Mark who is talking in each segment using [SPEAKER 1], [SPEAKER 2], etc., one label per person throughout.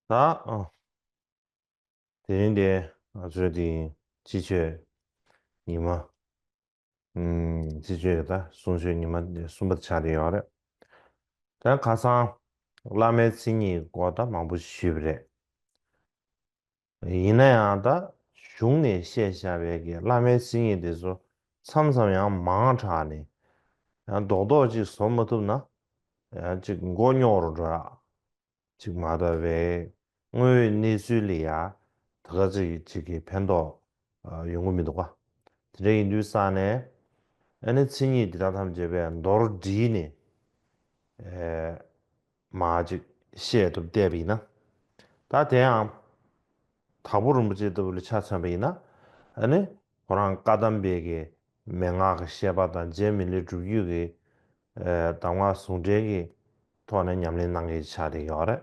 [SPEAKER 1] དེ་རིང་འདི་ང་ཚོའི་འདི་སྤྱི་སྤྱོད་ཉི་མ། སྤྱི་སྤྱོད་རེད་ད་གསུང་ཆོས་ཉི་མ་གསུམ་པ་ཆགས་ཀྱི་ཡོད་རེད། དེ་ཁ་སང་བླ་མའི་མཚན་ཉིད་སྐོར་ད་མང་པོ་ཞུས་པ་རེད། ཡིན་ན་ཡང་ད་གཞུང་ནས་བཤད་བཞག་པའི་གི་བླ་མའི་མཚན་ཉིད་དེ་ཚོ་མཚམས་མཚམས་ཡང་མང་དྲགས་ནས། ཡང་རྡོག་རྡོག་ཅིག་བཟོ་མ་ཐུབ་ན། ཡང་ཅིག་མགོ་རྙོག་རུ་འགྲོ་ཡག་ཅིག་མ་གཏོགས་བའི་དངོས་ཡོད་གནས་ཚུལ་ལས་ཡག་ད་ག་ཚོད་ཅིག་གི་ཕན་ཐོགས་ཡོང་གི་མི་འདུག་ག། དེ་འདྲ་ཡིན་དུས་སང་ནས་ཨ་ནི་མཚན་ཉིད་དེ་དག་ཐམས་ཅད་པས་མདོར་བསྒྲིལ་ནས། མ་ཅིག་བཤད་དུ་བསྡད་པ་ཡིན་ན། ད་དེའང་དྭགས་པོ་རིན་པོ་ཆེ་ལྟ་བུ་ལ་ཆ་མཚོན་པ་ཡིན་ན། ཨ་ནི་ཁོ་རང་བཀའ་གདམས་དཔལ་གྱི་མན་ངག་གི་བཤད་པ་དང་རྗེ་མི་ལའི་སྒྲུབ་བརྒྱུད་ཀྱི་གདམས་ངག་ཟུང་འབྲེལ་གྱི་ཐོག་ནས་ཉམས་ལེན་གནང་མཁན་ཞིག་ཆགས་བསྡད་ཡོད་རེད།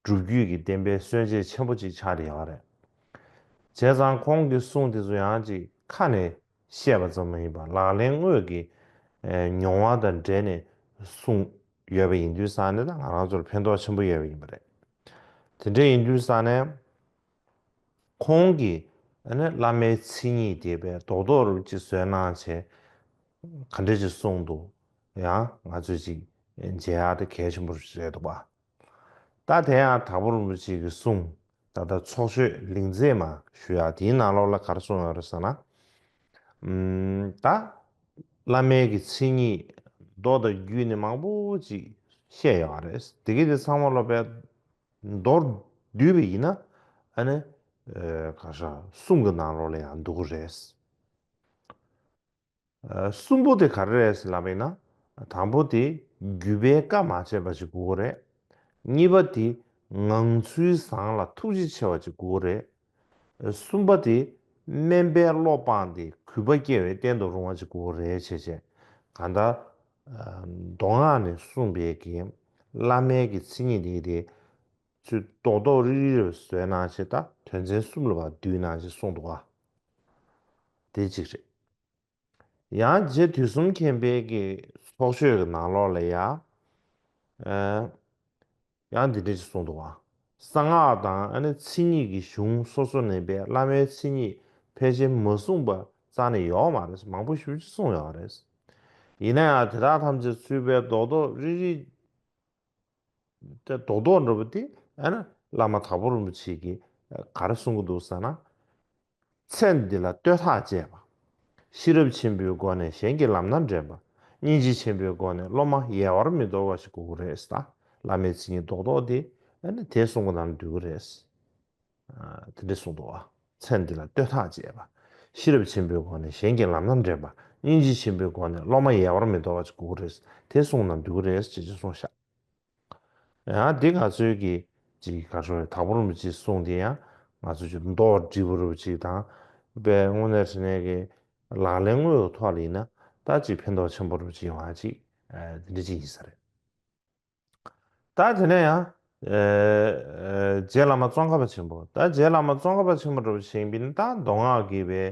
[SPEAKER 1] སྒྲུབ་བརྒྱུད་ཀྱི་བསྟན་པའི་སྲོལ་འབྱེད་ཆེན་པོ་གཅིག་ཆགས་ཡོད་པ་རེད། བྱས་ཙང་ཁོང་གི་གསུང་དེ་ཚོ་ཡང་ཅིག་ཁ་ནས་བཤད་པ་ཙམ་མ་ཡིན་པར་ལག་ལེན་དངོས་ཀྱི་མྱོང་བ་དང་འབྲེལ་ནས་གསུང་ཡོད་པ་ཡིན་དུས་ས་གནས་དང་ང་རང་ཚོར་ཕན་ཐོགས་ཆེན་པོ་ཡོད་པ་ཡིན་པ་རེད། དེ་འདྲ་ཡིན་དུས་ས་ནས་ཁོང་གི་བླ་མའི་མཚན་ཉིད་དེ་བས་རྡོག་རྡོག་རུ་ཅིག་བཟོས་ན་བྱས་ག་འདྲ་ཅིག་གསུང་འདུག་ཡང་ང་ཚོས་ཅིག་མཇལ་ཡག་དེ་གལ་ཆེན་པོ་རེད་འདུག་བ། ད་དེ་ཡང་དྭགས་པོ་རིན་པོ་ཆེ་གིས་གསུངས་ད་ལྟ་ཚོགས་ཆོས་ལིང་མཛེས་མ་ཞུ་ཡག་དེའི་ནང་ལོགས་ལ་གར་གསུངས་ཡོད་རེད་ཟེར་ན། ད་བླ་མའི་གི་མཚན་ཉིད་མདོ་དང་རྒྱུད་ནི་མང་པོ་ཅིག་བཤད་ཡོད་ཡག་རེད་དེ་གི་དེ་ཚང་མ་སློབ་པའི་མདོར་བསྡུས་པ་ཡིན་ན་ཨ་ནི་ག་ཧྲ་གསུང་གི་ནང་ལོགས་ལ་ཡང་འདུག་གི་རེད། གསུམ་པོ་དེ་ག་རེ་རེད་ཟེར་ལབ་པ་ཡིན་ན། དང་པོ་དེ་རྒྱུད་པའི་བཀའ་མ་བྱས་པ་ཅིག་གུ་གུ་རེད། གཉིས་པ་དེ་ངང་ཚུལ་བཟང་ལ་ཐུགས་རྗེ་ཆེ་བ་ཅིག་གུ་གུ་རེད། གསུམ་པ་དེ་དམན་པའི་བློ་སྤངས་ཏེ་གུས་པ་སྐྱེ་བའི་རྟེན་དུ་རུང་བ་ཅིག་གུ་གུ་རེད་བྱས་བྱས་ག་ད། མདོ་སྔགས་ནས་གསུངས་པའི་གིས་བླ་མའི་གི་ཚིག་ཉིད་དེ་དེ། ཚུལ་རྡོག་རྡོག་རིལ་རིལ་བའི་ཟོལ་སྣང་ཆེ་ད། དོན་ཚན་གསུམ་ལ་བ་བསྡུས་གནང་ཞེས་གསུངས་འདུག་ཨ། དེ་གཅིག་རེད། ཡང་རྗེ་དུས་གསུམ་མཁྱེན་དཔལ་གྱི་ཚོགས་ཆོས་ཀྱི་ནང་ལོགས་ལ་ཡང། ཡང་འདི་འདྲ་ཞིག་གསུངས་འདུག་ཨ། གསང་སྔགས་དང་ཨ་ནི་ཚིག་གཉིས་ཀྱི་གཞུང་སོ་སོ་ནས་པའི་བླ་མའི་མཚན་ཉིད་ཕལ་ཆེར་མ་གསུངས་པ་རྩ་ནས་ཡོག་མ་རེད་མང་པོ་ཞུ་ཅི་གསུངས་ཡོག་རེད། ཡིན་ན་ཡང་དེ་དག་ཐམས་ཅད་ཚུལ་དཔལ་རྡོག་རྡོག་རིལ་རིལ། དེ་རྡོག་རྡོག་འགྲོ་བ་དེ་ཨ་ན་བླ་མ་དྭགས་པོ་རིན་པོ་ཆེ་གིས་ག་རེ་གསུང་གི་འདུག་ཟེར་ན། ཚེ་འདི་ལ་བསྟོད་ཐག་བཅད་པ། ཤེས་རབ་ཆེན་པོའི་སྒོ་ནས་གཞན་གྱི་ལམ་སྣ་འདྲེན་པ། སྙིང་རྗེ་ཆེན་པོའི་སྒོ་ནས་སློབ་མ་ཡལ་བར་མི་འདོར་བ་ཞིག་དགོས་ཀྱི་རེད་ཟེར་ན་བླ་མའི་ཚིག་ཉིད་རྡོག་རྡོག་དེ་ཨ་ན་དེ་གསུང་གི་ནང་དུ་འདུས་ཀྱི་རེད། དེ་འདྲའི་གསུང་དུ། ཚེ་འདི་ལ་ལྟོས་ཐག་བཅད་པ། ཤེས་རབ་ཆེན་པོའི་སྒོ་ནས་གཞན་གྱི་ལམ་སྣ་འདྲེན་པ། སྙིང་རྗེ་ཆེན་པོའི་སྒོ་ནས་སློབ་མ་ཡལ་བར་མི་དོར་བ་ཅིག་དགོས་ཀྱི་རེད། དེ་གསུང་ན་འདོད་ཀྱི་རེད་ཅེས་ཅི་གསུང་ཤག། ཡང་འདི་ག་ཚོད་ཀྱི་ཅིག་ག་ཤོར་ཡོད་དག་པོ་རུ་མི་ཅིག་གསུང་དེ་ཡང་ང་ཚོ་ཅིག་མདོ་བར་དྲིལ་བུ་རུ་བ་ཅིག་དང། དཔལ་དངོས་གནས་ཧྲི་ནས་ཀྱི་ལག་ལེན་དངོས་ཡོད་ཐོག་ལ་ཡིན་ན་ད་ཅིག་ཕན་ཐོག་ཆེན་པོ་རུ་བྱེད་ཡོང་ཨ་ཅིག་དེ་འདྲ་ཅིག་ཡིན་ས་རེད། ད་དེ་ནས་ཡང། རྗེ་བླ་མ་ཙོང་ཁ་པ་ཆེན་པོ། ད་རྗེ་བླ་མ་ཙོང་ཁ་པ་ཆེན་པོ་གྲུབ་བྱེད་བིན་ད་མདོ་སྔགས་ཀྱི་བའི་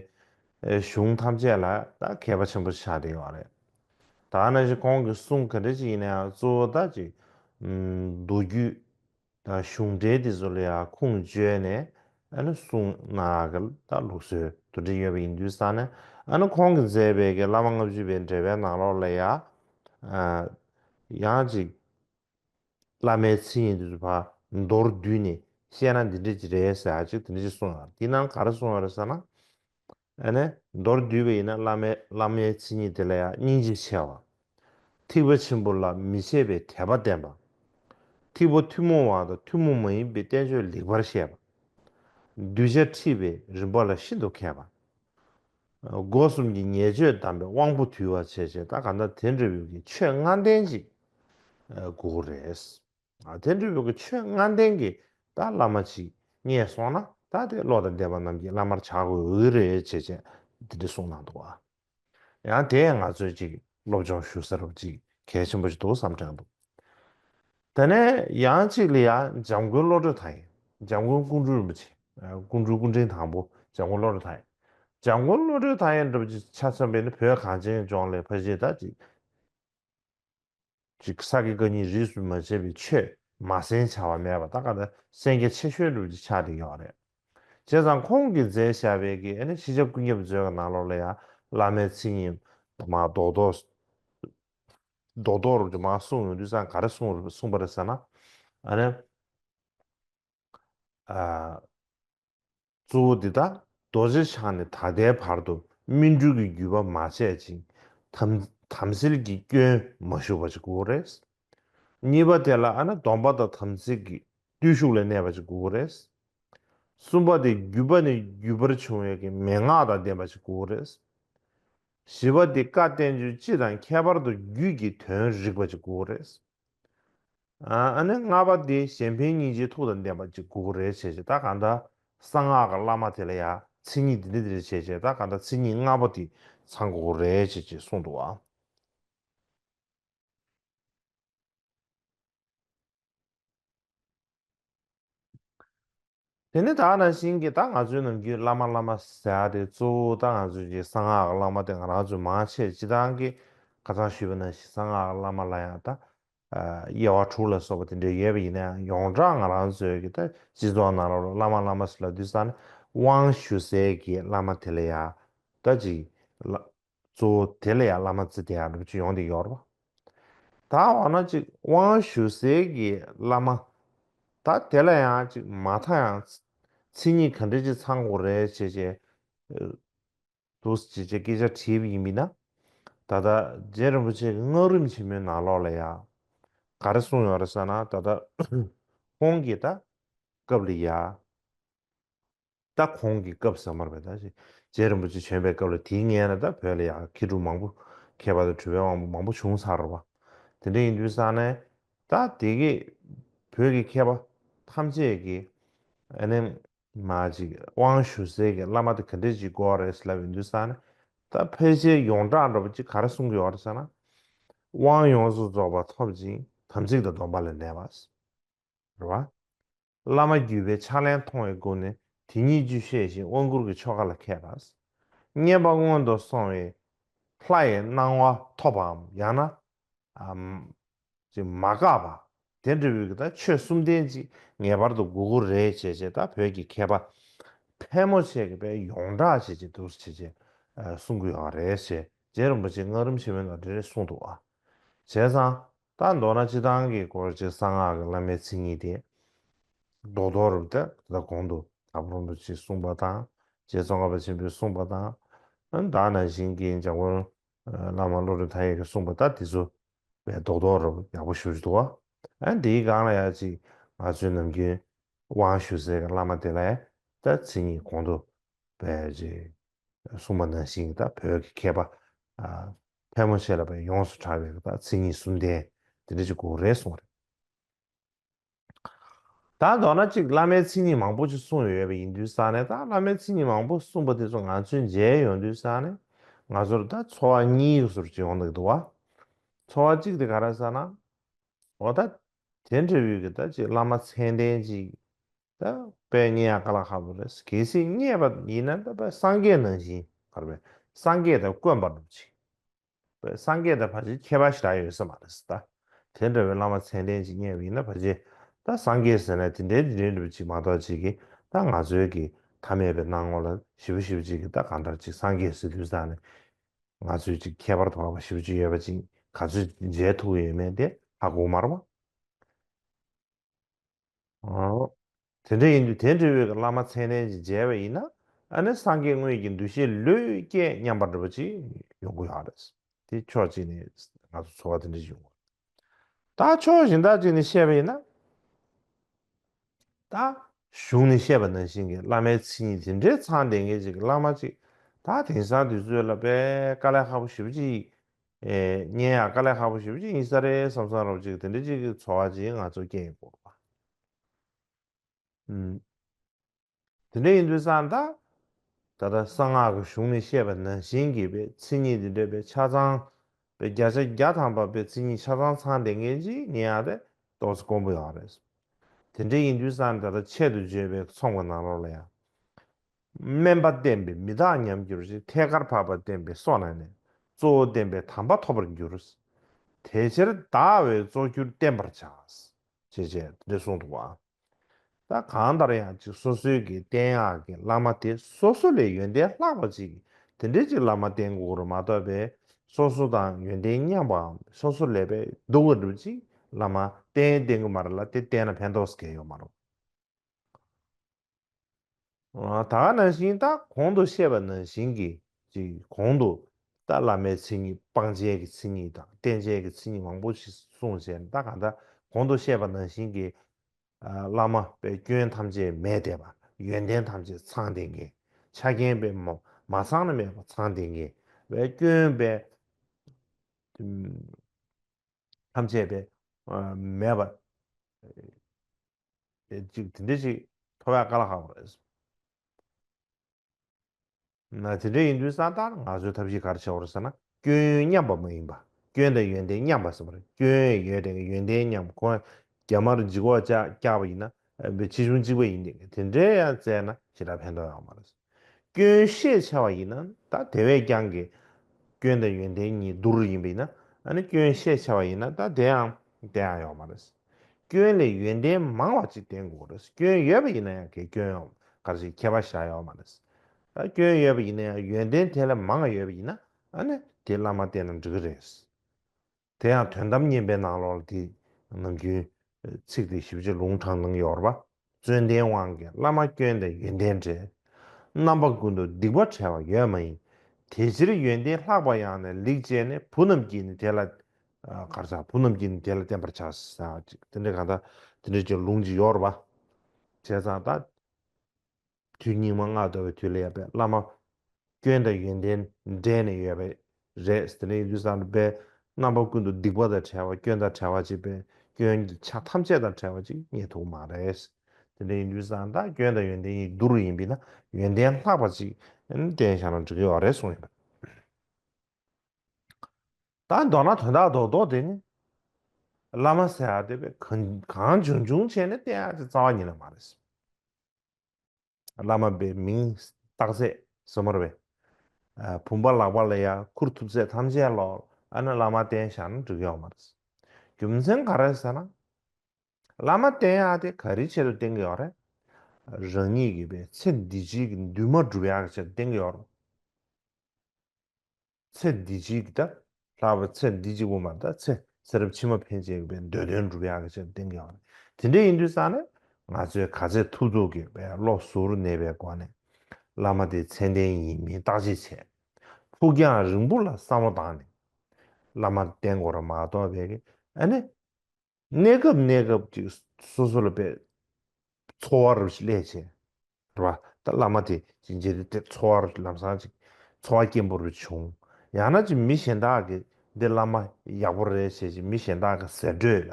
[SPEAKER 1] གཞུང་ཐམས་ཅད་ལ་ད་མཁས་པ་ཆེན་པོ་ཤ་རེ་བ་རེད། ད་ན་བཞིན་ཁོང་གི་གསུང་ག་འདྲ་ཅིག་ཡིན་ན་ཡང་གཙོ་བོ་ད་ཅིག། མདོ་རྒྱུད། དང་གཞུང་འབྲེལ་དེ་ཚོ་ལ་ཡང་ཁུངས་བཅོལ་ནས་ཨ་ནུ་གསུངས་གནང་གི་ད་ལུགས་སྲོལ་དུ་བསྒྲིགས་ཡོད་པ་ཡིན་དུས་ས་ནི་ཨ་ནུ་ཁོང་གི་མཛད་པའི་གི་བླ་མ་ལྔ་བཅུ་པའི་འགྲེལ་པའི་ནང་ལོགས་ལ་ཡ་ཡང་ཅིག་བླ་མའི་ཚིག་ཡིན་དུས་ཚོ་བར་མདོར་བསྡུས་ནས་བཤད་ན་འདི་འདྲི་གི་རེད་ཟེར་ཡ་ཅིག་དེ་འདྲི་གཅིག་གསུངས་ཡོད་དེ་ནང་ག་རེ་གསུངས་ཡོད་རེད་ཟེར་ན། ཨ་ནི་མདོར་བསྡུས་པ་ཡིན་ན་བླ་མའི་བླ་མའི་མཚན་ཉིད་དེ་ལ་ཡང་སྙིང་རྗེ་ཆེ་བ། ཐིགས་པ་ཆེན་པོ་ལ་མི་ཕྱེད་པའི་དད་པ་བརྟན་པ། ཐིགས་པ་ཐུན་མོང་བ་དང་ཐུན་མོང་མ་ཡིན་པའི་བསྟན་བཅོས་ལེགས་པར་ཤེས་པ། གདུལ་བྱ་འཁྲིད་པའི་རིམ་པ་ལ་ཤིན་ཏུ་མཁས་པ། སྒོ་གསུམ་གྱི་ཉེས་སྤྱོད་བསྡམས་པའི་དབང་པོ་དུལ་བ་བྱེད་བྱེད་ད་ག་ད་དེ་འདྲ་བའི་གི་ཆོས་ལྔ་ལྡན་ཅིག་དགོས་རེད། དེ་འདྲ་བའི་གི་ཆོས་ལྔ་ལྡན་གི་ད་བླ་མ་ཅིག་རྙེད་སོང་ན་ད་དེ་བློ་དང་ལྡན་པ་རྣམས་ཀྱིས་བླ་མར་བྱ་དགོས་འོས་རེད་ཅེས་ཅེས་དེ་འདྲ་གསུངས་གནང་འདུག་བ། ཡང་དེས་ང་ཚོས་ཅིག་སློབ་སྦྱོང་ཞུ་ས་རུ་ཅིག་གལ་ཆེན་པོ་ཞིག་འདུག་བསམ་དྲན་འདུག་དེ་ནས་ཡང་ཅིག་ལི་ཡ་འཇམ་མགོན་བློ་གྲོས་དང་ཡང་འཇམ་མགོན་ཀུན་སྤྲུལ་རིན་པོ་ཆེ་ཀུན་སྤྲུལ་སྐུ་ཕྲེང་དང་པོ་འཇམ་མགོན་བློ་གྲོས་དང་ཡང་འཇམ་མགོན་བློ་གྲོས་དང་ཡང་འདྲ་བ་ཅིག་ཆ་མཚོན་པའི་ནི་བོད་གངས་ཅན་ལྗོངས་ལས་ཕ་གཞིས་ད་ཅིག། ཅིག། ས་དགེ་བཀའ་རྙིང་རིས་སུ་མ་ཆད་པའི་ཆོས་མ་གསན་བྱ་བ་མེད་པ་ད་ག་ད་གསན་རྒྱ་ཆེ་ཤོས་སྒྲུབ་བྱེད་ཆགས་འདི་ཡོག་རེད། བྱས་ཙང་ཁོང་གིས་མཛད་བཞག་བས་ཀི་ཨ་ནི་ཕྱི་ཆ་ཀུན་ཁྱབ་མཛོད་ཀ་ནང་ལོག་ལ་ཡང་བླ་མའི་ཚིག་ཉིན་མ་རྡོག་རྡོག་རྡོག་རྡོག་རུ་དུ་མ་གསུངས་ཡོང་དུས་ཙང་ག་རེ་གསུངས་གསུངས་པ་རེད་ཟེར་ན་ཨ་ནི། གཙོ་བོ་འདི་དག་རྡོ་རྗེ་འཆང་ནས་ད་ལྟའི་བར་དུ་སྨིན་གྲོལ་གྱི་བརྒྱུད་པ་མ་བྱས་ཅིང་དམ་སེལ་གྱི་སྐྱོན་མ་ཞུགས་པ་ཅིག་གོ་རེ། གཉིས་པ་དེ་ལ་ཨ་ན་སྡོམ་པ་དང་དམ་ཚིག་གི་བརྟུལ་ཞུགས་ལས་གནས་པ་ཅིག་གོ་རེ། གསུམ་པ་དེ་བརྒྱུད་པ་ནས་བརྒྱུད་པར་འབྱུང་བའི་གི་མན་ངག་དང་ལྡན་པ་ཅིག་གོ་རེ། བཞི་པ་དེ་བཀའ་བསྟན་བཅུ་སྤྱི་དང་ཁྱད་པར་དུ་རྒྱུད་ཀྱི་དོན་རིག་པ་ཅིག་གོ་རེ། ཨ་ནི་ལྔ་པ་དེ་གཞན་ཕན་སྙིང་རྗེའི་ཐུགས་དང་ལྡན་པ་གཅིག་གུ་གུ་རེ་བྱས་བྱས་ད་གང་ད་གསང་སྔགས་ཀྱི་བླ་མ་དེ་ལ་ཡང་མཚན་ཉིད་འདི་འདི་འདི་རེ་བྱས་བྱས་ད་གང་ད་མཚན་ཉིད་ལྔ་པོ་དེ་ཚང་གུ་གུ་རེ་བྱས་བྱས་གསུངས་འདུག་བ། དེ་ནི་དག་སྣང་ཞིང་གི་དག་ང་ཚོའི་ནང་རྒྱུད་བླ་མ་བླ་མ་ཟེར་བ་དེ་གཙོ་བོ་དག་ང་ཚོས་ཀྱི་གསང་སྔགས་བླ་མ་དེ་ང་རང་ཚོས་མང་ཆེ་སྤྱི་དང་གི་ཁ་ཚང་ཞུས་པ་ནང་བཞིན་གསང་སྔགས་བླ་མ་ལ་ཡང་དག་དབྱེ་བ་དྲུག་ལ་སོགས་པ་དེ་འདྲས་ཡོད་པ་ཡིན་ན་ཡང་ཡོངས་གྲགས་ང་རང་ཚོས་ཀྱི་དག་སྤྱི་ཚོགས་ནང་རོ་བླ་མ་བླ་མ་ཟེར་ལ་དུས་སང་ནི་དབང་ཞུ་སའི་གི་བླ་མ་དེ་ལ་ཡང་དག་ཅིག་གཙོ་བོ་དེ་ལ་ཡང་བླ་མ་ཙི་ཏའི་ཨ་ནུ་ཅི་ཡོང་དེ་ཡོར་བ། ད་འོ་ན་ཅིག་དབང་ཞུ་ཟེར་གི་བླ་མ། ད་དེ་ལ་ཡང་ཅིག་མ་མཐའ་ཡང་ཚིག་ཉིད་ག་འདྲས་ཅིག་ཚང་དགོས་རེད་བྱས་བྱས། དུས་བྱས་བྱས་སྐད་ཆ་དྲིས་པ་ཡིན་མིན་ན། ད་ལྟ་རྗེ་རིན་པོ་ཆེ་གི་སྔགས་རིམ་ཆེན་མོའི་ནང་ལོགས་ལ་ཡང་ག་རེ་གསུངས་ཡོང་རེད་ས་ན་ད་ལྟ་ཁོང་གིས་ད་སྐབས་ལ་ཡ། ད་གོང་གི་སྐབས་ཟ་མར་བས་ད་རྗེ་རིན་པོ་ཆེ་བྱོན་པའི་སྐབས་ལ་དེའི་སྔས་ན་ད་བོད་ལ་ཡ་ཁེ་དྲུག་མང་པོ་ཁེ་བ་དང་གྲུ་བའི་དབང་པོ་མང་པོ་བྱུང་ཚར་བ། དེ་འདྲ་ཡིན་དུས་ས་ནས་ད་དེ་གི་བོད་ཀྱི་མཁས་པ་ཐམས་ཅད་ཀྱི་ཨ་ནེ་མ་ཅིག་དབང་ཞུ་སའི་གི་བླ་མ་དེ་ག་འདྲས་ཅིག་གོ་རེད་ཟེར་ལབ་ཡོང་དུས་ས་ནས་ད་ཕལ་ཆེར་ཡོངས་གྲགས་འགྲོ་བ་ཅིག་ག་རེ་གསུང་གི་ཡོད་རེད་ཟེར་ན། དབང་ཡོངས་སུ་རྫོགས་པ་ཐོབ་ཅིང་དམ་ཚིག་དང་སྡོམ་པ་ལས་འདས་པ། རེད་བ། བླ་མ་བརྒྱུད་པའི་ཕྱག་ལེན་མཐོང་བའི་སྒོ་ནས་དེ་ཉིད་རྒྱུད་བཤད་བཞིན་དབང་བསྐུར་གྱི་ཆོ་ག་ལ་མཁས་པ། བརྙེས་པ་སྔོན་དུ་སོང་བས་ལྷ་ཡི་སྣང་བ་ཐོབ་པའམ་ཡང་ན། མ་འགགས་པ། དེ་འབྲས་བུའི་དང་ཆོས་གསུམ་ལྡན་ཅིག་ངེས་པར་དུ་དགུ་དགུར་རེ་བྱས་བྱས་དང་བོད་ཀྱི་མཁས་པ་ཕལ་མོ་ཆེ་གི་པའི་ཡོངས་གྲགས་བྱས་བྱས་དུར་བྱས་བྱས་གསུང་དགོས་ཡོང་བ་རེད་ཞེས་རྗེ་རིན་པོ་ཆེ་སྔགས་རིམ་ཆེན་མོའི་ནང་འདྲི་རེ་གསུང་འདུག་བྱས་ཙང། ད་མདོར་ན་སྤྱི་དང་གི་སྐོར་གྱི་གསང་སྔགས་ཀྱི་བླ་མའི་ཚིག་གཉིས་དེ། མདོ་དོར་རུ་ཏྲ་ལ་གོང་དུ་དྭགས་པོ་རིན་པོ་ཆེས་གསུངས་པ་དང་རྗེ་ཙོང་ཁ་པ་ཆེན་པོས་གསུངས་པ་དང། དྭགས་ན་བཞེངས་མཁན་འཇམ་མགོན་བླ་མ་བློ་གྲོས་མཐའ་ཡས་ཀྱིས་གསུངས་པ་ལྟར་དེ་ཚོ་བའི་མདོ་དོར་རུ་ཡག་པོ་ཞུ་རྒྱུ་འདུག་བ། འདིའི་སྒང་ལ་ཡག་ཅིག་ང་ཚོའི་ནམ་རྒྱུན་དབང་ཞུ་སའི་གི་བླ་མ་དེ་ལ་ཡང་ཏྲ་ཚིག་གཉིས་གོང་དུ་བས་རེད། སྲུང་མ་སྣང་ཞིང་དང་བོད་ཀྱི་མཁས་པ། ཕལ་མོ་ཆེ་ལ་བས་ཡོངས་སུ་གྲགས་པའི་དང་ཚིག་གཉིས་གསུམ་ལྡན། དེ་འདྲ་གཅིག་གོ་རེ་གསུངས་རེ། དང་མདོར་ན་གཅིག་བླ་མའི་ཚིག་གཉིས་མང་པོ་ཅིག་གསུངས་ཡོད་པ་ཡིན་དུས་སང་ནས་ད་བླ་མའི་ཚིག་གཉིས་མང་པོ་གསུངས་པ་དེ་ཚོ་ང་ཚོའི་མཇལ་ཡོང་དུས་སང་ནས་ང་ཚོར་ད་འཚོ་བ་གཉིས་ཟུར་གཅིག་ཡོང་གི་འདུག་བ། འཚོ་བ་གཅིག་དེ་ག་རེ་ཟེར་ན། འོ་ད་དེ་འདྲ་བུའི་གི་ད་གཅིག་བླ་མ་མཚན་ལྡན་གཅིག་ད་པའི་ཉན་ཡག་ག་ལ་ཧ་པོ་རེད་གལ་སྲིད་རྙེད་པ་ཡིན་ན་ད་པའི་སངས་རྒྱས་ནང་བཞིན་བར་པའི་སངས་རྒྱས་དེ་དཀོན་པར་འདུག་ཅིག་པའི་སངས་རྒྱས་དེ་བར་ཆད་ཁྱད་པར་ཞིག་གྲགས་ཡོད་ས་མ་རེད་ད་དེ་འདྲ་བའི་བླ་མ་མཚན་ལྡན་ཅིག་རྙེད་པ་ཡིན་ན་བར་ཆད་ད་སངས་རྒྱས་ཟེར་ན་དེ་འདྲའི་དེ་འདྲའི་འདྲ་བ་ཅིག་མ་གཏོགས་ཅིག་གིས་ད་ང་ཚོའི་གི་ཐ་མལ་པའི་སྣང་ངོ་ལ་ཞིབ་པོ་ཞིབ་པོ་ཅིག་གིས་ད་གང་འདྲ་ཅིག་སངས་རྒྱས་ཟེར་དུས་ད་ནི་ང་ཚོས་ཅིག་ཁྱད་པར་དུ་བ་བ་ཞིབ་པོ་ཅིག་ཡོད་པ་ཅིག་ག་ཚོད་མཇལ་ཐུག་ཡོད་མེད་དེ་ཧ་གོ་མར་བ། དེ་འདྲ་ཡིན་དུས་དེ་འབྲེལ་བའི་བླ་མ་མཚན་ལྡན་གྱིས་མཇལ་བ་ཡིན་ན་ཨ་ནི་སངས་རྒྱས་དངོས་ཀྱི་འདུ་ཤེས་ལོས་སྐྱེས་སྙམ་པ་འདྲ་པོ་ཅིག་ཡོང་གི་ཡོད་རེད། དེ་ཕྱོགས་གཅིག་ནས་ང་ཚོ་འཚོ་བ་དེ་འདྲ་ཞིག་ཡོང་གི་ཡོད། ད་ཕྱོགས་གཞན་དག་ཅིག་ནས་བཤད་པ་ཡིན་ན། ད་གཞུང་ནས་བཤད་པ་ནང་བཞིན་གྱི་བླ་མའི་མཚན་ཉིད་དེ་འདྲའི་ཚང་ལྡན་མཁན་ཅིག་གི་བླ་མ་ཅིག་ད་དེང་སང་དུས་ཚོད་ལ་དཔལ་དཀའ་ལས་ཧ་པོ་ཞེ་པོ་ཅིག་སྙན་ཡག་དཀའ་ལས་ཁག་པོ་ཞུ་བ་ཅིག་ཡིན་ས་རེད་བསམ་བསམ་རོགས་ཅིག་དེ་འདྲ་ཅིག་གི་འཚོ་བ་ཅིག་ང་ཚོ་སྐྱེལ་དགོས་པ་ཨུ། དེ་འདྲ་ཡིན་དུས་སང་ད་ལྟ་གསང་སྔགས་ཀྱི་གཞུང་ནས་བཤད་པ་ནང་བཞིན་གྱི་པའི་མཚན་ཉིད་དེ་འདྲ་པའི་ཆ་ཚང་པའི་བརྒྱ་ཆ་བརྒྱ་ཐམ་པ་པའི་མཚན་ཉིད་ཆ་ཚང་ཚང་དེ་མཁན་ཅིག་སྙན་ཡག་དེ་ཏོག་ཙེ་དཀོན་པོ་ཡག་རེད་བསམ། དེ་འདྲ་ཡིན་དུས་སང་ད་ལྟ་ཆེད་དུ་བརྗོད་པའི་ཚོང་པ་ནང་རོགས་ལ་ཡང། དམན་པ་བསྟེན་པས་མི་དག་ཉམས་འགྱུར་ཞིང་ཐད་ཀར་འཕགས་པ་བསྟེན་པས་སོ་ན་ནས་གཙོ་བོ་བསྟེན་པས་དམ་པ་ཐོབ་པར་འགྱུར། དེ་ཕྱིར་བདག་བས་གཙོ་གྱུར་བསྟེན་པར་བྱ། ཞེས་བྱའི་འབྲེལ་གསུངས་འདུག་བ། ད་གང་ལྟར་ཡང་གཅིག་སོ་སོའི་གི་བསྟེན་ཡག་གི་བླ་མ་དེ་སོ་སོ་ལས་ཡོན་ཏན་ལྷག་པ་ཅིག་དེ་འདྲའི་ཅིག་བླ་མ་བསྟེན་དགོས་རུ་མ་གཏོགས་པས་སོ་སོ་དང་ཡོན་ཏན་མཉམ་པའམ་སོ་སོ་ལས་པས་སྡུག་བ་འགྲུབ་ཅིག་བླ་མ་བསྟེན་བསྟེན་དགོས་མ་རེད་ལ་དེ་བསྟེན་ན་ཕན་ཐོགས་སྐལ་ཡོད་མ་རུང། ད་ག་ནང་བཞིན་ད་གོང་དུ་བཤད་པ་ནང་བཞིན་གྱི་ཀྱི་གོང་དུ། ད་བླ་མའི་མཚན་ཉིད་སྤང་བྱའི་གྱི་མཚན་ཉིད་དང་རྟེན་བྱའི་གྱི་མཚན་ཉིད་མང་པོ་ཞིག་གསུངས་བྱས་ན་ད་ག་ད་གོང་དུ་བཤད་པ་ནང་བཞིན་གྱི། བླ་མ་པའི་སྐྱོན་ཐམས་ཅད་མེད་དེ་བ་ཡོན་ཏན་ཐམས་ཅད་ཚང་དེ་ངེས་ཆ་རྐྱེན་པས་མ་མ་ཚང་ན་མེད་པ་ཚང་དེ་ངེས་བའི་སྐྱོན་པས། ཐམས་ཅད་པས་མེད་པ། ཅིག་དེ་འདྲས་ཅིག་ཐོ་བས་བཀའ་ལ་ཁག་པ་རེད། དེ་འདྲས་ཡིན་དུས་གསང་བདག་ནི་ང་ཚོའི་ཐབས་ཤེས་གར་བྱེད་འོར་ཟེར་ན་སྐྱོན་ཡོན་མཉམ་པ་མ་ཡིན་པ་སྐྱོན་དང་ཡོན་ཏན་མཉམ་པ་ཟེར་བ་རེད་སྐྱོན་ཡོད་དེ་གའི་ཡོན་ཏན་མཉམ་ཁོ་རྒྱ་དམར་འཇིགས་འོག་བཅག་བཅག་པ་ཡིན་ན་བའི་ཕྱི་གཞུང་གཅིག་པ་ཡིན་དེ་གའི་དེ་འདྲས་ཡང་བཙལ་ན་ཞེ་དྲག་ཕན་ཐོག་ཡོང་བ་མ་རེད། སྐྱོན་ཤེས་བྱ་བ་ཡིན་ན་ད་དེ་བས་ཀྱང་གི། སྐྱོན་དང་ཡོན་ཏན་གཉིས་བསྡུར་ཡིན་པས་ན་ཨ་ནི་སྐྱོན་ཤེས་བྱ་བ་ཡིན་ན་ད་དེ་ཡང་དེ་ཡང་ཡོག་མ་རེད། སྐྱོན་ལས་ཡོན་ཏན་མང་བ་ཅིག་ལྡན་དགོས་རེད་སྐྱོན་ཡོད་པ་ཡིན་ན་ཡང་གི་སྐྱོན་ཡོག་གར་ཞིག་ཁྱད་པར་བཞག་ཡོག་མ་རེད། སྐྱོན་ཡོད་པ་ཡིན་ན་ཡང་ཡོན་ཏན་དེ་ལས་མང་ཡོད་པ་ཡིན་ན་ཨ་ནི་དེ་བླ་མ་བསྟེན་ན་འགྲིག་གི་རེད། དེ་ཡང་དོན་དམ་གཉན་པའི་ནང་ལོགས་ལ་དེ་ནམ་རྒྱུན། ཚིག་དེ་ཞིབ་ཆ་ལུང་དྲངས་གནང་ཡོར་བ། བརྩོན་ལྡན་དབང་གི་བླ་མ་སྐྱོན་དང་ཡོན་ཏན་བྲལ། རྣམ་པ་ཀུན་ཏུ་སྡིག་པ་བྲལ་བ་ཡོད་མ་ཡིན། དེ་ཕྱིར་ཡོན་ཏན་ལྷག་པ་ཡང་ནི་ལེགས་སྤྱད་ནས་བུ་རྣམས་ཀྱིས་ནི་དེ་ལ། གར་བྱ་བུ་རྣམས་ཀྱིས་ནི་དེ་ལ་བསྟེན་པར་བྱ། དེ་འདྲའི་གང་དག་དེ་འདྲའི་ཀྱང་ལུང་གཅིག་ཡོར་བ། བྱས་ཙང་དང། དུས་སྙིགས་མ་ལྔ་བདོ་བའི་དུས་ལ་ཡབ་པའི་བླ་མ། སྐྱོན་དང་ཡོན་ཏན་འདྲེས་ནས་ཡོད་པ་རེད་དེ་ནས་ཡུལ་ས་ལ་པའི་རྣམ་པ་ཀུན་ཏུ་སྡིག་པ་དང་བྲལ་བ་སྐྱོན་དང་བྲལ་བ་ཅིག་པས་སྐྱོན་གྱི་ཆ་ཐམས་ཅད་དང་བྲལ་བ་ཅིག་རྙེད་ཐུབ་མ་རེད། དེ་འདྲའི་ཡུལ་ས་དང་སྐྱོན་དང་ཡོན་ཏན་གཉིས་བསྡུར་ཡིན་པས་ན་ཡོན་ཏན་ལྷག་པ་ཅིག་དྲན་བཞག་ན་འགྲིག་གི་ཡོད་རེད་གསུངས་ཡོད། ད་མདོར་ན་དོན་དག་རྡོག་རྡོག་དེ་ནི། བླ་མ་ཟེར་བ་དེ་བས་གང་བྱུང་བྱུང་བྱས་ནས་བསྟན་ཡག་ཅིག་རྩ་བ་ཉིད་ལ་མ་རེད། བླ་མ་པའི་མིང་བཏགས་ཚད་སུ་མར་བས། བུམ་པ་ལག་པ་ལ་ཡང་ཁུར་ཐུབ་ཚད་ཐམས་ཅད་ལ་ཨ་ནི་བླ་མ་བསྟན་བཞག་ན་འགྲིག་ཡོང་མ་རེད། རྒྱུ་མཚན་ག་རེད་ཟེར་ན། བླ་མ་བསྟན་ཡག་དེ་ག་རེའི་ཆེད་དུ་བསྟན་གྱི་ཡོད་རེད། རང་ཉིད་ཀྱི་པའི་ཚེ་འདི་བྱེད་ཀྱི་འདུན་མ་སྒྲུབ་ཡག་གི་ཆེད་དུ་བསྟན་གྱི་ཡོད་རེད། ཚེ་འདི་གཅིག་གི་ད་ལྷག་པའི་ཚེ་འདི་གཅིག་པོ་མ་གཏོགས་ཚེ་ཚེ་རབས་ཕྱི་མ་ཕན་ཆད་ཡོད་པའི་འདོད་དོན་འགྲུབ་ཡག་གི་ཆེད་དུ་གཏན་འཁེལ་བ་རེད། དེ་འདྲ་ཡིན་དུས་སང་ནས་ང་ཚོས་ག་ཚད་ཐུབ་ཚོགས་ཀྱི་བས་བློ་ཟུར་ནས་པའི་སྒོ་ནས་བླ་མ་དེ་མཚན་ལྡན་ཡིན་མིན་བརྟག་དཔྱད་བྱས། ཕུགས་རྒྱང་རིང་པོ་ལ་བསམ་བློ་བཏང་ནས་བླ་མར་བསྟེན་དགོས་ར་མ་གཏོགས་བས་ཨ་ནེ། གནས་སྐབས་གནས་སྐབས་ཀྱི་སོ་སོ་ལ་འབད། འཚོ་བར་བྱེད་ལས་བྱེད། རེད་པ། ད་བླ་མ་དེ་ཅི་འཇལ་དེ་འཚོ་བར་ལམ་སང་ཅིག་འཚོ་བ་སྐྱེན་པོ་རེ་བྱུང། ཡང་ན་ཅིག་མི་གཞན་དག་གིས་འདི་བླ་མ་ཡག་པོ་རེད་ཞེས་ཅིག་མི་གཞན་དག་གི་ཟེར་སྒྲོས་ལ་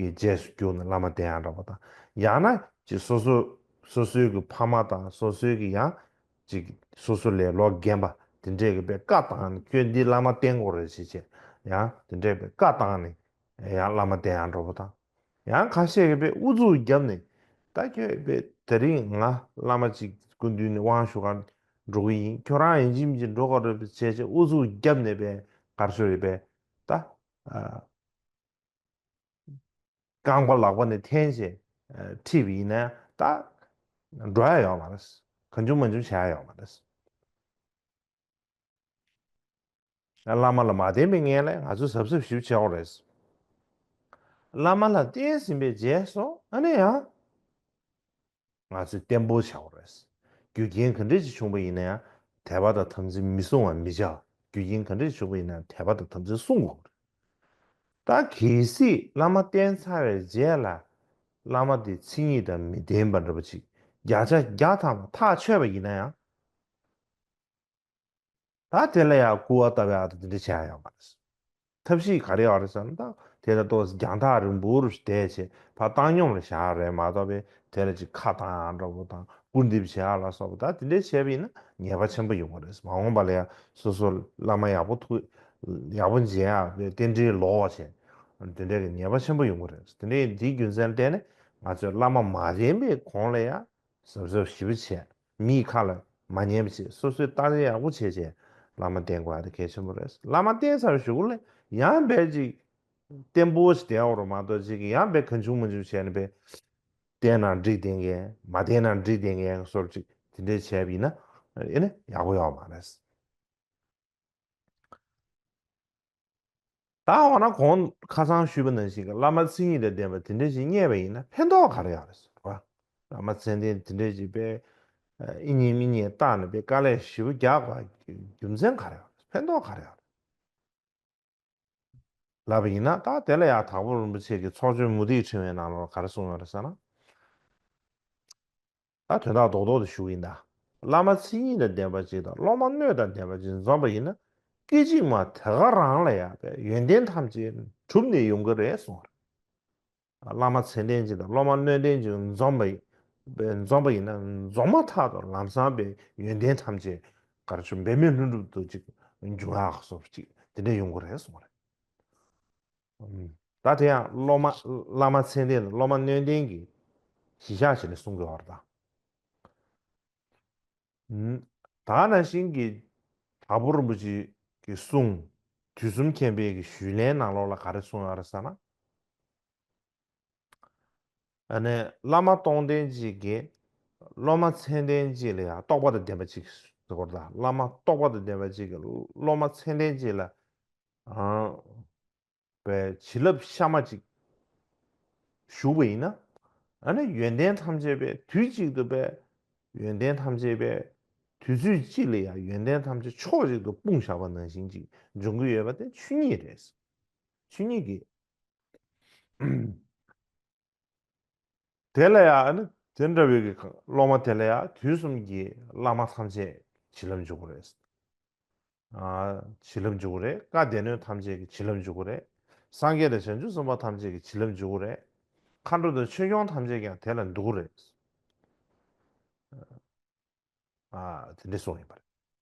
[SPEAKER 1] གི་རྗེས་སུ་རྒྱུགས་ནས་བླ་མ་དེ་ཡང་འདྲ་པོ་དང་ཡང་ན་ཅིག་སོ་སོ་སོ་སོའི་གི་ཕ་མ་དང་སོ་སོའི་གི་ཡང་ཅིག་སོ་སོ་ལས་ལོ་རྒན་པ་དེ་འདྲས་གི་པའི་བཀའ་བཏང་ནས་ཁྱོད་འདི་བླ་མ་བསྟེན་དགོས་རེད་ཞེས་བྱས་ཡང་དེ་འདྲས་པའི་བཀའ་བཏང་ནས་ཡང་བླ་མ་བསྟེན་ཡང་འགྲོ་པོ་དང། ཡང་ཁ་ཤས་པས་ཨུ་ཚུགས་བརྒྱབ་ནས་ད་ཁྱོད་པས་དེ་རིང་ང་བླ་མ་གཅིག་སྐུ་མདུན་ནས་དབང་ཞུ་ཁར་འགྲོ་གི་ཡིན་ཁྱོད་རང་ཡིན་ཕྱིན་གྱིས་འགྲོ་ག་རེ་བྱས་བྱས་ཨུ་ཚུགས་བརྒྱབ་ནས་པས་གར་ཤོར་ཡོད་པས་ད་རྐང་པ་ལག་པ་ནས་འཐེན་བྱས་ཁྲིད་པ་ཡིན་ན་ཡང་ད་འགྲོ་ཡ་ཡོད་མ་རེད་གང་བྱུང་མ་བྱུང་བྱ་ཡ་ཡོད་མ་རེད། ང་བླ་མ་ལ་མ་བསྟེན་པའི་ངན་ལས་ང་ཚོས་གཟབ་གཟབ་ཞིབ་བྱེད་འོང་རེད། བླ་མ་ལ་བསྟེན་ཟིན་པའི་རྗེས་སུ་ཨ་ནེ་ཡང། ང་ཚོས་བརྟན་པོ་བྱ་འོང་རེད། རྒྱུ་རྐྱེན་ག་འདྲས་ཀྱིས་བྱུང་བ་ཡིན་ན་ཡང་དད་པ་དང་དམ་ཚིག་མི་སྲུང་བ་མི་བྱ། རྒྱུ་རྐྱེན་ག་འདྲས་བྱུང་བ་ཡིན་ན་ཡང་དད་པ་དང་དམ་ཚིག་སྲུང་དགོས་རེད། ད་གལ་སྲིད་བླ་མ་བསྟེན་ཚར་བའི་རྗེས་ལ། བླ་མ་དེ་ཚིག་ཉིད་དང་མི་ལྡན་པ་འདྲ་པོ་ཅིག་བརྒྱ་ཆ་བརྒྱ་ཐམ་པ་ཐག་ཆོད་པ་ཡིན་ན་ཡང། ད་དེ་ལ་ཡང་སྐུར་བ་ལྟ་བུའི་ཨ་ཏི་འདི་འདྲ་བྱེད་ཨ་ཡོང་བ་རེད། ཐབས་ཤེས་ག་རེ་ཡོད་རེད་བསམ་དང་དེ་ལྟར་གཏོགས་སི་རྒྱང་ཐག་རིང་པོ་རུ་ཞིག་བསྡད་བྱས་ཕ་བཏང་སྙོམས་ལ་བཞག་རེད་མ་གཏོགས་པའི་དེ་ལ་ཅིག་ཁ་བཏང་ཨ་འདྲ་བོ་དང་སྐུར་འདེབས་བྱེད་ཨ་ལ་སོགས་པ་ད་དེ་འདྲ་བྱས་པ་ཡིན་ན་ཉེས་པ་ཆེན་པོ་ཡོང་བ་རེད་མ་འོངས་པ་ལ་ཡང་སོ་སོ་བླ་མ་ཡག་པོ་ཐུགས་ཡག་པོ་མཇལ་ཨ་བས་རྟེན་འབྲེལ་ལོག་བ་བྱས་དེ་འདྲ་གི་ཉེས་པ་ཆེན་པོ་ཡོང་གི་རེད་དེ་འདྲའི་འདིའི་རྒྱུ་མཚན་བལྟས་ནས་ང་ཚོས་བླ་མ་མ་རན་པའི་གོང་ལ་ཡང་གཟབ་གཟབ་ཞིབ་བྱས། མིའི་ཁ་ལ་མ་ཉན་པ་བྱེད་སོ་སོའི་ཏང་ཡག་པོ་བྱེད་ཆེད་བླ་མ་བསྟེན་དགོས་དེ་གལ་ཆེན་པོ་རེད་བླ་མ་བསྟེན་ཚར་ཞུགས་ལ་ཡང་འབད་ཅིག་བསྟེན་པོ་ཞིག་བསྟེན་འོག་རུ་མ་གཏོགས་ཅིག་གིས་ཡང་འབད་གང་བྱུང་མ་བྱུང་བྱས་ནས་འབད། བསྟེན་ན་འགྲིག་བསྟེན་མཁན་མ་བསྟེན་ན་འགྲིག་བསྟེན་མཁན་གསོ་རུ་ཅིག་དེ་འདྲའི་བྱས་པ་ཡིན་ན་ཨེ་ཡག་པོ་ཡོད་མ་རེད། ད་འོ་ན་གོང་ཁ་སང་ཞུས་པ་ནང་བཞིན་བླ་མ་མཚན་ཉིད་དང་ལྡན་པ་དེ་འདྲ་ཞིག་རྙེད་པ་ཡིན་ན་ཕན་ཐོགས་ག་རེ་ཡོད་རེད་ཟེར་བ། བླ་མ་མཚན་ལྡན་དེ་འདྲ་ཞིག་པས་ཨེ་རྙེད་མི་རྙེད་བརྟག་ནས་པའི་དཀའ་ལས་ཞེ་བོ་རྒྱག་པ་རྒྱུ་མཚན་ག་རེ་ཡོད་རེད་ཕན་ཐོགས་ག་རེ་ཡོད་རེད། ལབ་པ་ཡིན་ན་ད་དེ་ལ་ཡག་དྭགས་པོ་རིན་པོ་ཆེ་གི་ཚོགས་ཆོས་མུ་ཏིག་ཕྲེང་བའི་ནང་ལོར་ག་རེ་གསུངས་ཡོད་རེད་ཟེར་ན། ད་དོན་དག་རྡོག་རྡོག་ཏུ་ཞུགས་ཡིན་ད། བླ་མ་ཚིག་གཉིས་དང་ལྡན་པ་གཅིག་དང་སློབ་མ་སྣོད་དང་ལྡན་པ་གཅིག་འཛོམས་པ་ཡིན་ན་སྐད་ཅིག་མ་དེ་ག་རང་ལ་ཡག་པས་ཡོན་ཏན་ཐམས་ཅད་གྲུབ་ནས་ཡོང་གི་རེད་གསུངས་རེད། བླ་མ་ཚེ་ལྡན་གཅིག་དང་སློབ་མ་སྣོད་ལྡན་གཅིག་འཛོམས་པ་འཛོམས་པ་ཡིན་ན་རྫོགས་མ་ཐག་ཏུ་ལམ་བཟང་པས་ཡོན་ཏན་ཐམས་ཅད་གར་ཆུ་འབེབས་མེད་ལྷུན་གྲུབ་ཏུ་གཅིག་འབྱུང་ཡག་གསུངས་རེད་གཅིག་དེ་འདྲ་ཡོང་གི་རེད་གསུངས་རེད། ད་དེ་ཡང་སློབ་མ་བླ་མ་མཚན་ལྡན་དང་སློབ་མ་སྣོད་ལྡན་གྱིས་གཞི་བཞག་བྱས་ནས་གསུང་དགོས་བར་དང། ད་ནང་བཞིན་གྱི་དྭགས་པོ་རིན་པོ་ཆེ་གི་གསུང་དུས་གསུམ་མཁྱེན་དཔལ་གྱི་ཞུས་ལན་ནང་ལོགས་ལ་ག་རེ་གསུང་ཡོད་རེད་ཟེར་ན། བླ་མ་སྟོང་ལྡན་གཅིག་གིས་སློབ་མ་མཚན་ལྡན་གཅིག་ལ་ཡང་རྟོགས་པ་དང་ལྡན་པ་གཅིག་གིས་གཟུ་བོར་དང་བླ་མ་རྟོགས་པ་དང་ལྡན་པ་གཅིག་གིས་སློབ་མ་མཚན་ལྡན་གཅིག་ལ་བའི་བྱིན་རླབས་གཤའ་མ་གཅིག་ཞུགས་པ་ཡིན་ན། ཡོན་ཏན་ཐམས་ཅད་པས་དུས་གཅིག་ཏུ་པའི་ཡོན་ཏན་ཐམས་ཅད་པས་དུས་ཚོད་གཅིག་ལ་ཡང་ཡོན་ཏན་ཐམས་ཅད་ཕྱོགས་གཅིག་ཏུ་སྤུངས་བཞག་པ་ནང་བཞིན་གཅིག་འབྱུང་གི་ཡོད་པ་དེ་ཆོས་ཉིད་རེད། ཆོས་ཉིད་ཀྱི་དེ་ལ་ཡང་དེ་འདྲ་བའི་སློབ་མ་དེ་ལ་ཡང་དུས་གསུམ་གྱི་བླ་མ་ཐམས་ཅད་བྱིན་རླབས་འཇུག་གོ་རེ། བྱིན་རླབས་འཇུག་གོ་རེ། བཀའ་སྡེ་སྣོད་ཐམས་ཅད་ཀྱི་བྱིན་རླབས་འཇུག་གོ་རེ། སངས་རྒྱས་དང་བྱང་ཆུབ་སེམས་དཔའ་ཐམས་ཅད་ཀྱི་བྱིན་རླབས་འཇུག་གོ་རེ། མཁའ་འགྲོ་དང་ཆོས་སྐྱོང་ཐམས་ཅད་ཀྱང་དེ་ལ་འདུག་གོ་རེ། དེ་འདྲའི་གསུང་ཡིན་པ་རེད།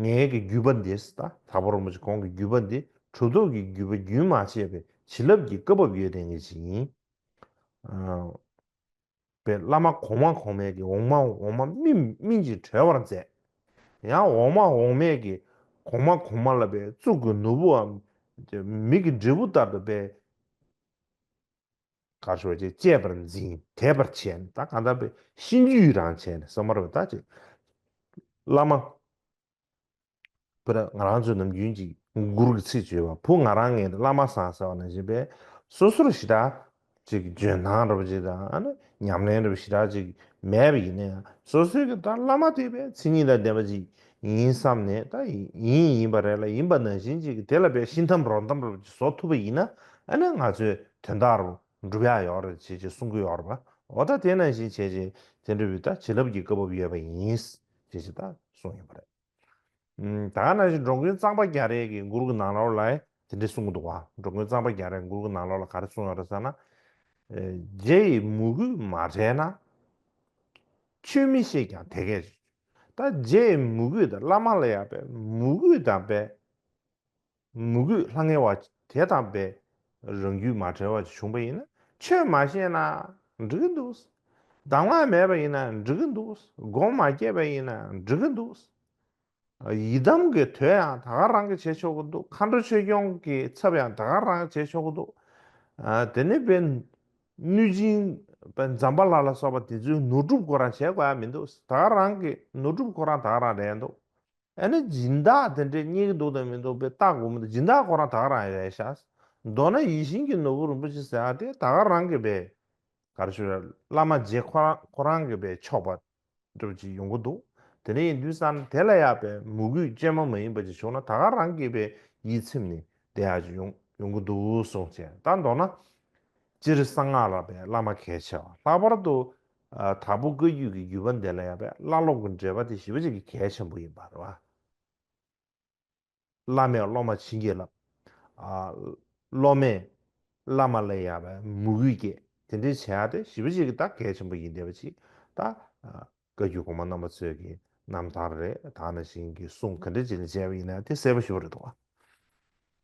[SPEAKER 1] ངའི་གི་བརྒྱུད་པ་འདིས་ད་དག་པ་རོང་པོ་ཆེ་ཁོང་གི་བརྒྱུད་པ་འདི་གྲུ་བཟློག་གི་བརྒྱུད་པ་རྒྱུན་མ་ཆད་པའི་བྱིན་རླབས་ཀྱི་བཀའ་བབས་ཡོད་ལྡན་གྱི་ཞིག་ཡིན། པའི་བླ་མ་གོང་མ་གོང་མས་གི་འོག་མ་འོག་མ་སྨིན་སྨིན་ཅིང་གྲོལ་བར་མཛད། ཡང་འོག་མ་འོག་མས་གི་གོང་མ་གོང་མ་ལ་པའི་གཙུག་གི་ནོར་བུའམ། མིག་གི་འབྲས་བུ་ལྟར་དུ་པའི། ཁ་ཕྱོགས་བཅས་བཅས་པར་འཛིན་དད་པར་བྱས་ནས་ད་གང་དམ་པའི་གཤིན་རྗེའི་ཡུལ་རང་བྱས་ནས་ས་དམར་བའི་ད་ཅེས། བླ་མ། བུ་ར་ང་རང་ཚོ་ནམ་རྒྱུན་གྱི་མགུར་གྱི་ཚིག་བརྗོད་པ་བུ་ང་རང་ངའི་བླ་མ་སང་ཟེར་བ་ནང་བཞིན་པས་སོ་སོར་ཞི་དྲག་ཅིག་འཇོན་ཐང་རབ་ཅིག་དང་ཉམས་ལེན་རབ་ཞི་དྲག་ཅིག་མེད་པ་ཡིན་ན་ཡང་སོ་སོའི་གི་ད་བླ་མ་དེ་བས་མཚན་ཉིད་དང་ལྡན་པ་ཅིག་ཡིན་བསམ་ནས་ད་ཡིན་ཡིན་པ་རེད་ལ་ཡིན་པ་ནང་བཞིན་ཅིག་དེ་ལ་བས་ཤིན་ཐམ་རོ་ཐམ་རབ་ཅིག་བཟོ་ཐུབ་པ་ཡིན་ན་ང་ཚོའི། དོན་དག་རུ་འགྲུབ་ཡག་ཡོད་རེད་ཅེས་ཀྱི་གསུང་གི་ཡོད་རེད་པ་འོ་ད་དེ་ནང་བཞིན་བྱས་རྗེས་དེ་འབྲི་བའི་ད་བྱིས་རླབས་ཀྱི་སྐབས་བབ་ཡོད་པ་ཡིན་ཅེས་ཀྱི་ད་གསུང་ཡོད་པ་རེད། ད་ག་ནང་བཞིན་འགྲོ་མགོན་གཙང་པ་རྒྱ་རས་ཀྱི་མགུར་གྱི་ནང་ལོགས་ལ་དེ་འདྲས་གསུང་གི་འདུག་བ་འགྲོ་མགོན་གཙང་པ་རྒྱ་རས་མགུར་གྱི་ནང་ལོགས་ལ་ག་རེ་གསུང་ཡོད་རེད་ཟེར་ན། རྗེ་ཡི་མོས་གུས་མ་བྲལ་ན། ཆོས་མི་ཤེས་ཀྱང་དེ་སྐད་ཅེས། ད་རྗེ་ཡི་མོས་གུས་དང་བླ་མ་ལ་ཡོད་པའི་མོས་གུས་དང་དཔལ། ངུ་གུས་ལྷང་ངེ་བ་དེ་དང་བས་རང་རྒྱུད་མ་བྲལ་བ་ཅིག་བྱུང་བ་ཡིན་ན་ཆོས་མ་ཤེས་ན་འགྲིག་གི་འདུག། གདམས་ངག་མེད་པ་ཡིན་ན་འགྲིག་གི་འདུག་སྒོམ་མ་སྐྱེས་པ་ཡིན་ན་འགྲིག་གི་འདུག། ཡི་དམ་གྱི་དོད་ཡང་ད་ག་རང་གིས་བྱེད་ཆོག་གི་འདུག་མཁའ་འགྲོ་ཆོས་སྐྱོང་གི་ཚབ་ཡང་ད་ག་རང་གིས་བྱེད་ཆོག་གི་འདུག། དེ་ནས་བས་གནོད་སྦྱིན་བས་འཇམ་པ་ལ་ལ་སོགས་པ་དེ་ཚོའི་ནོར་སྒྲུབ་ཁོ་རང་བྱེད་དགོས་ཡ་མི་འདུག་ད་ག་རང་གི་ནོར་སྒྲུབ་ཁོ་རང་ད་ག་རང་རེད་འདུག། ཨ་ནི་སྦྱིན་བདག་དེ་འདྲས་རྙེད་ཀྱི་འདུག་དང་མི་འདུག་པའི་ལྟ་དགོས་མི་འདུག་སྦྱིན་བདག་ཁོ་རང་དག་རང་ཡལ་ཤག། མདོར་ན་ཡིད་བཞིན་གྱི་ནོར་བུ་རིན་པོ་ཆེ་ཟེར་བ་དེ་དག་རང་གི་བས། ག་རེ་ཞུ་རེ་བླ་མ་རྗེ་ཁོ་རང་ཁོ་རང་གི་བས་ཆོག་པ་འགྲུབ་ཅིག་ཡོང་གི་འདུག་དེ་འདྲས་ཡིན་དུས་ས་ན་དེ་ལ་ཡག་པའི་མུ་གུས་སྤྱན་མ་མ་ཡིན་པ་ཅིག་བྱུང་ན་དག་རང་གི་བས་ཡིད་ཚིམ་ནས་བསྡད་ཡག་ཅིག་ཡོང་ཡོང་གི་འདུག་གསུངས་བྱས་ད་མདོར་ན། སྤྱིར་གསང་སྔགས་ལ་བས་བླ་མ་གལ་ཆེ་བ་ལྷག་པར་དུ་དང་པོ་བཀའ་རྒྱུད་ཀྱི་བརྒྱུད་པ་འདི་ལ་ཡང་པའི་བླ་སློབ་ཀྱི་འབྲེལ་པ་དེ་ཞི་བ་གཅིག་གི་གལ་ཆེན་པོ་ཡིན་པར་བ། བླ་མས་སློབ་མར་བྱིན་གྱིས་བརླབས། སློབ་མས་བླ་མ་ལ་ཡང་པའི་མོས་གུས་བསྐྱེད་དེ་འདྲའི་བྱ་བ་དེ་ཞི་བ་གཅིག་གི་ད་གལ་ཆེན་པོ་ཡིན་བསྡད་པ་ཅིག་ད་བཀའ་རྒྱུད་གོང་མ་རྣམ་པ་ཚོས་ཀྱི་རྣམ་ཐར་རེ་དག་ནང་བཞིན་གྱི་གསུང་ག་འདྲ་ཅིག་ལ་མཇལ་བ་ཡིན་ན་དེ་གསལ་པོ་ཞུ་བ་རེ་དོ་བ།